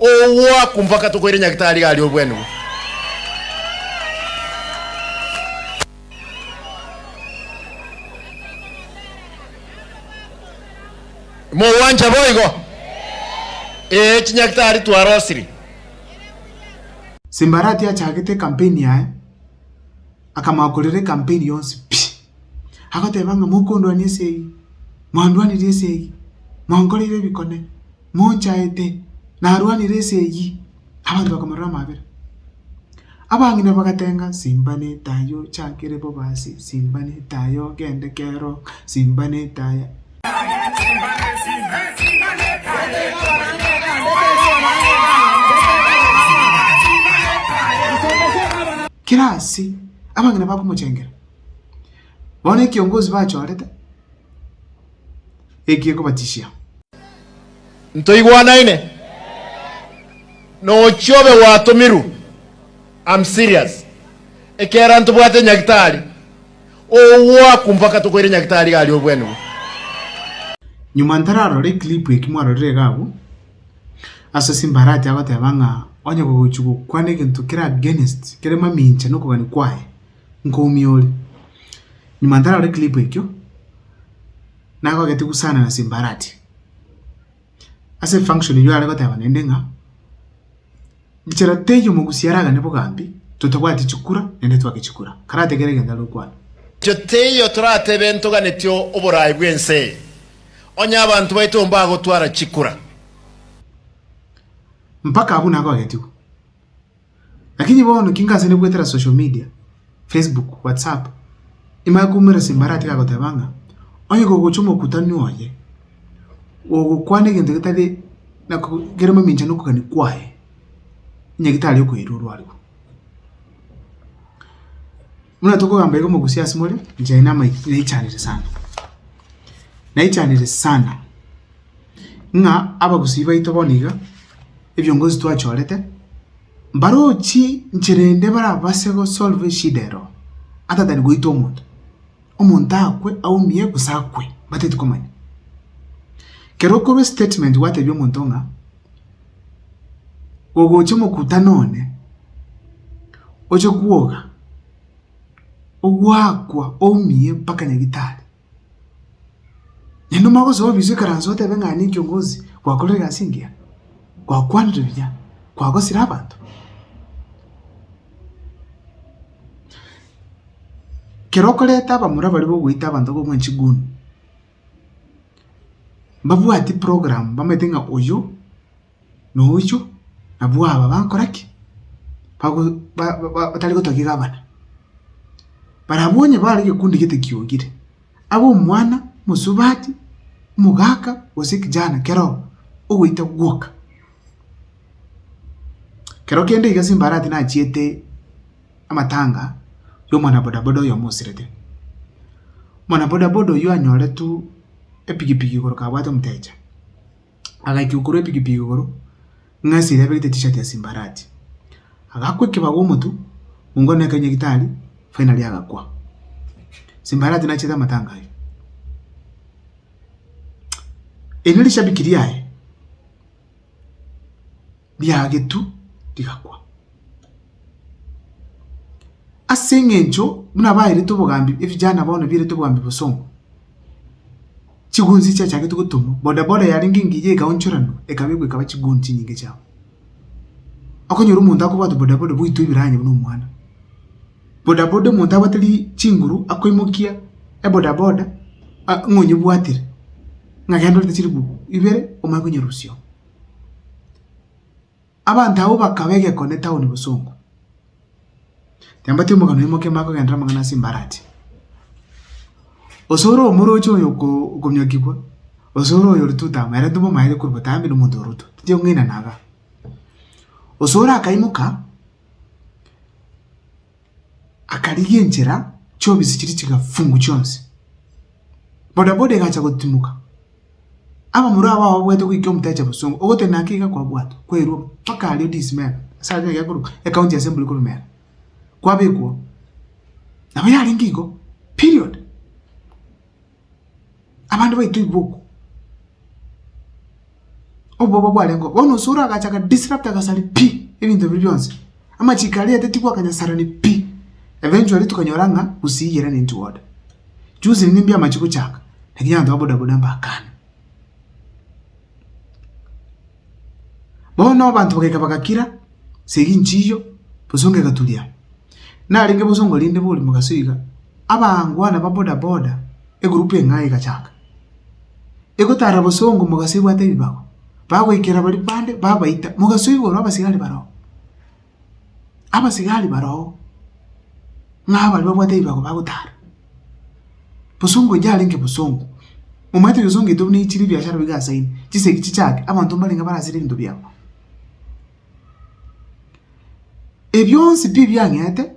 Ogwakwa mpaka tokoire Nyagetari iga aria obwenigwe. Mogwancha boigo? Ee, Chinyagetari twarosiri. Simbarati achagete ekampeini yaye, akamanya korera ekampeini yonsi pi! Agoteba ng'a mokondwania ase eyio, mwandwanirie ase eyio, mwankoreire ebikone. mochaete, narwanire ense eyio, abanto bakamorora amaabera. Abang'ina bagatenga, Simba nete aye ochakire bobe ase, simba nete aye ogende kero, simba nete aye. Kera ase abang'ina bakomochengera, bono ekiongozi bachorete. eki ekobatisia. Ntoigwanaine? Nochie obe gwatomirwe. Am serious. Ekera ntobwate nyagitari ogoaku mpaka tokoire nyagitari iga aria obwenigwe. Nyuma ntararore eclip eki mwarorire iga abwo, ase Simba arache agoteba ng'a onye gogochia gokwana egento kere against kere mamincha nokogania kwaye, nkoumia ore. Nyuma ntarore clip ekio, nagogete gusana na simbarati. Ase function eyio are goteba naende ng'a, richera teiyo omogusi aragane bogambi, totabwati chikura naende twake chikura. Karategere egento are gokwana. Inche teiyo toratebe ntoganeti oboraai bw'ense eye, onye abanto baito mbagotwara chikura. Mpaka abwo nagogetigwa. Lakini bono ki ngasene goetera social media, Facebook, WhatsApp, imanye koumera simbarati gagoteba ng'a onye kogocha omokutani oye, gogokwana egento getari na kere momincha na okogania kwaye, onye getari okoirwa orwarigwe. Buna tokogamba igo mogusie asemore, inche naende amaiti naichanire sana. Naichanire sana, ng'a abagusii baito bono iga, ebiongozi twachorete, mbarochi nchera ende barabase gosolve eshida ero, ata than goita omonto. Omonto akwe, aumie, gose akwe, mbateti komanya. Kero okorwa estatement gwatebi omonto ng'a. Ogocha omokutano one, oche kwoga, ogwakwa oumie mpaka nyagetari. Naende mogosoa ofisu ekaranse otebe ng'a nini kiongozi gwakorire egasi engiya, gwakwanire buya, kwagosire abanto. Kero okoreta abamura baria bagoita abanto bakomoa chiguni. mbabwati program bamanyete ng'a oyio na oyio nabwo aba bagokora ki? Bago ba ba batari gotwa kegabana. Barabwo onye bare egekundi gete kiongire, abe omwana, omosubati, omogaka, gose ekijana kero oo, ogoita gwoka. Kero kende iga ase mbarati nachiete. amatanga y'omwana bodaboda oyomo osirete. Omwana bodaboda oyio anyoretwe epigipigi igoro kabwate omotecha, agaikigwa korwa epigipigi igoro ng'a esira ebegete tishati ase embarati. Agakwa ekebago omotwe, mongo one akayinywa gitari, finally agakwa. Ase embarati nachete amatanga aye. Erio rishabiki riaye. riagetu rigakwa. Ase eng'encho buna baerete obogambi ebijana bono bierete obogambi bosongo, chigunzi chiachagete gotumwa, boda boda yarenge engiya ekaonchoranwa ekabekwa ekaba chiguni chinyinge chiabo. Okonyora omonto akobwate boda boda bwaito ebiranya buna omwana. Boda boda omonto abwate ri chinguru akoimokia eboda boda ng'a onyebwatire ng'a genda orete chilifu ibere omanye konyerusia oo. Abanto abwo bakaba egeko ne town bosongo. Nyambati omogano oye moke makogenderera amang'ana ase embarachi. Osore omoroche oyo oko- okomiokigwa, osore oyo oritutama, ere ntobo maere korwa botambe na omonto oroto. Teti ong'ina naga. Osore akaimoka. akarigia enchera chi'obisi chiria chigafungu chionsi. Bodaboda egacha gotimoka. Abamura abwo ababuete goika omotacha bosongo ogoteba naki iga kwabwatwa kwairwa mpaka aria odiisi mera ase aria nigo ekorokwa ecounty assembly korwa mera kwabekwa oo. Nabo yarenge igo period. abande baito iga okwo, oboba bwarengeo. Bono osore agacha aga disrupt agasaria pi ebinto biria bionsi. Amachiko aria etaeti gwakanyasarani pi. Eventually tokanyora ng'a gusii eye run into water. Juzi nimbia amache gochaka, lakini abanto ba bodaboda mbakane. Bono abanto bagaika bagakira, esegi nchiyo, bosongo egaturia. Narenge bosongo rinde borimo gaso iga, abangwana ba boda boda, egurupu eng'ai egachaka, egotara bosongo mogaso ebwate ebibago, bagoikera baria bande, babaita, mogaso igoro abasigari baroo. abasigari baroo ng'a baria babwate ebibago bagotara. Bosongo eria yarenge bosongo, omanyete ebesongo ebiaito buna chire ebiashara bigasaine, chisegi chichake, abanto mbarenge barase ebinto biabo. Ebio bionsi pi biang'ete.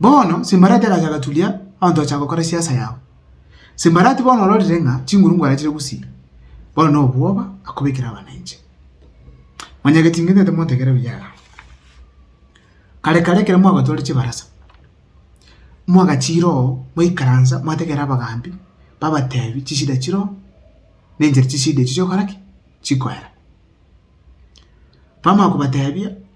Bono Simbarati agacha agaturia abanto bachaka gokora siasa yabo. Simbarati bono ororire ng'a chinguru ngwarachire gusii, bono na obwoba akobekire abananchi. Manya getingi ntete motegere buya igaa. Kare kare ekero mwagatware chibarasa, mwagachira oo mwaikaransa mwategera abagambi babatebi chishida chire oo na enchera chishida echi chigokora ki? Chikoera. Bamanya kobatebia.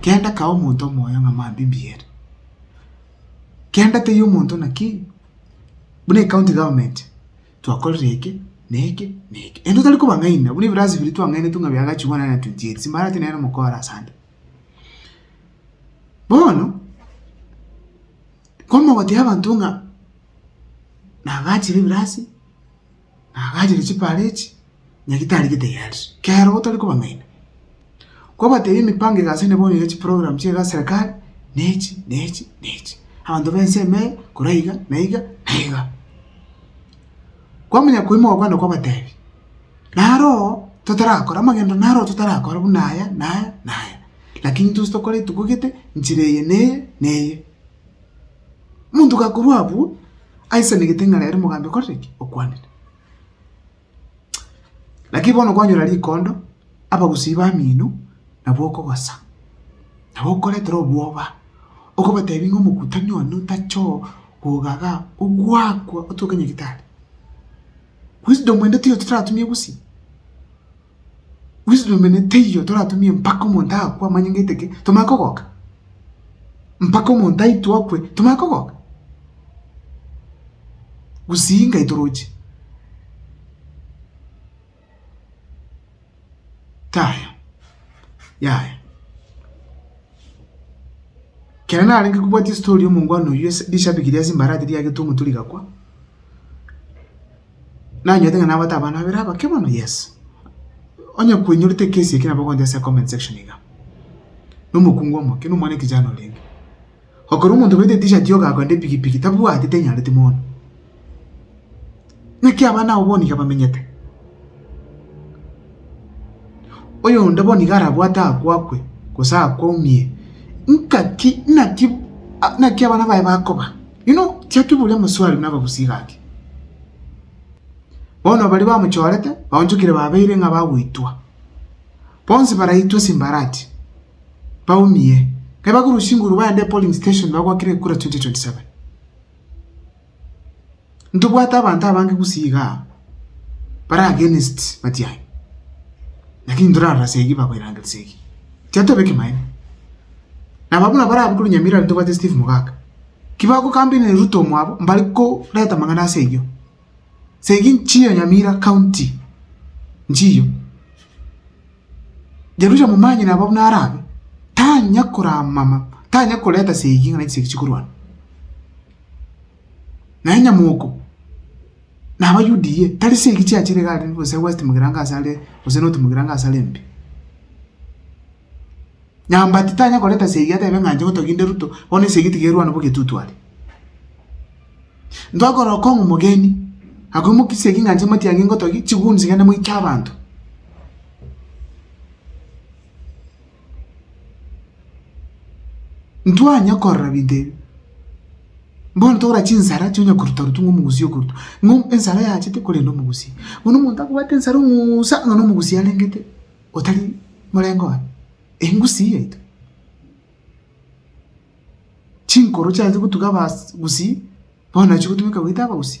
kenda kae omonto omoyo ng'a mabibi ere, kenda teiyo omonto naki buna ecounty government twakorire eke na eke na eke. Ere tari kobang'aina buna ebirasi biria twang'ainetwe ng'a biagachigwa one hundred and twenty eight simbareti nere mokorasi ande. Bono kwamogotebia abanto ng'a nagachire ebirasi. Nagacheria chipara echi, nyagitari getayariswe, kero gotari kobang'aina. Kwabatebia emipango eye ase nebono ya chiprogram chiaye ase serikali, na echi, na echi, na echi. Abanto b'ense ime eye, korwa iga, na iga, na iga. Kwamanya koimoka kwande kwabatebia, naro totarakora amagendo naro totarakora buna aya, na aya, na aya. Lakini intwe ase tokore rituko gete, nchera eye na eye, na eye. Omonto gakorwa abwo aisanegete ng'a rero mogambi okorire ki? Okwanire. Naki bono kwanyora rikondo, abagusii bamino nabo okogosa, nabo okoretera obwoba, okobatebia ng'a omokutania one otache oo koga iga ogwakwa otoke nyagetari. Wisdom ende tiyo toratumie gusii. Wisdom ene teiyo toratumie mpaka omonto akwe amanye ng'aite ki, tomanye kogoka. Mpaka omonto aitwe akwe, tomanye kogoka. Gusii ngai toroche. Taya, yaya. Kere narenge kobwatia story omongwana oyio ase rishabiki ria Simbarati riagete omotu rigakwa, Nanyete ng'a nabwate abana babere abake mono, yes. Onye kwenyorete ekesi eke nabo ogoncha ase comment section iga. Na omokungu omoke, na omwana ekijana orenge. Okorora omonto oberete t-shirt yogo agoenda epigipigi, tabwati tenyareti mono. Naki abana abo bono iga bamenyete. Oyonde bono iga arabwate aakwo akwe, gose aakwo aumie. Nkaki, naki, naki abana baye bakoba? Inwe chiakiburia omoswari buna abagusie gati, bono baria bamochorete baonchokire babeire ng'a bagoitwa. Bonsi baraitwe simbarati, baumie. Kai bagure usinguru baende epolling station bagwakire ekura 2027. Ntobwate abanto abange gusii igaa bare against Matiang'i. Lakini ntorarora segi bakoirangeria segi. Tiatoba ekimaene. Naba buna barabe kore Nyamira ntobwate Steve Mogaka. Kibagokambireniri Ruto omwabo mbare koreta amang'ana ase eyio. Segi nchiyo Nyamira county nchiyo. Jerusha momanyire aba buna arabe tanya koramama tanya koreta segi ng'a chisegi chikorwana. Naye Nyamoko naba UDA tari segi chiachire iga are gose West Mugirango ase are gose North Mugirango ase are mbe. Nyambati titanya koreta esegi atebe ng'a inche gotogia inde Ruto, bono esegi tigerwana bogetutu are. Ntwakorora okong'u omogeni, agwo mokia esegi ng'a inche Matiang'i ngotogia, chiguns gende moike abanto. Ntwanya korora binto ebi, bono togora chinsara chio onya koruta rutu ng'a omogusi okoruta, ng'a ensara yachete korende omogusi. Bono omonto akobwate ensara ong'uusa, ng'a na omogusi arengete. otari morengo one, engusii yaito. Chinkoro chiaye gotuga abas gusii, bono nachi gotugeka goita abagusii.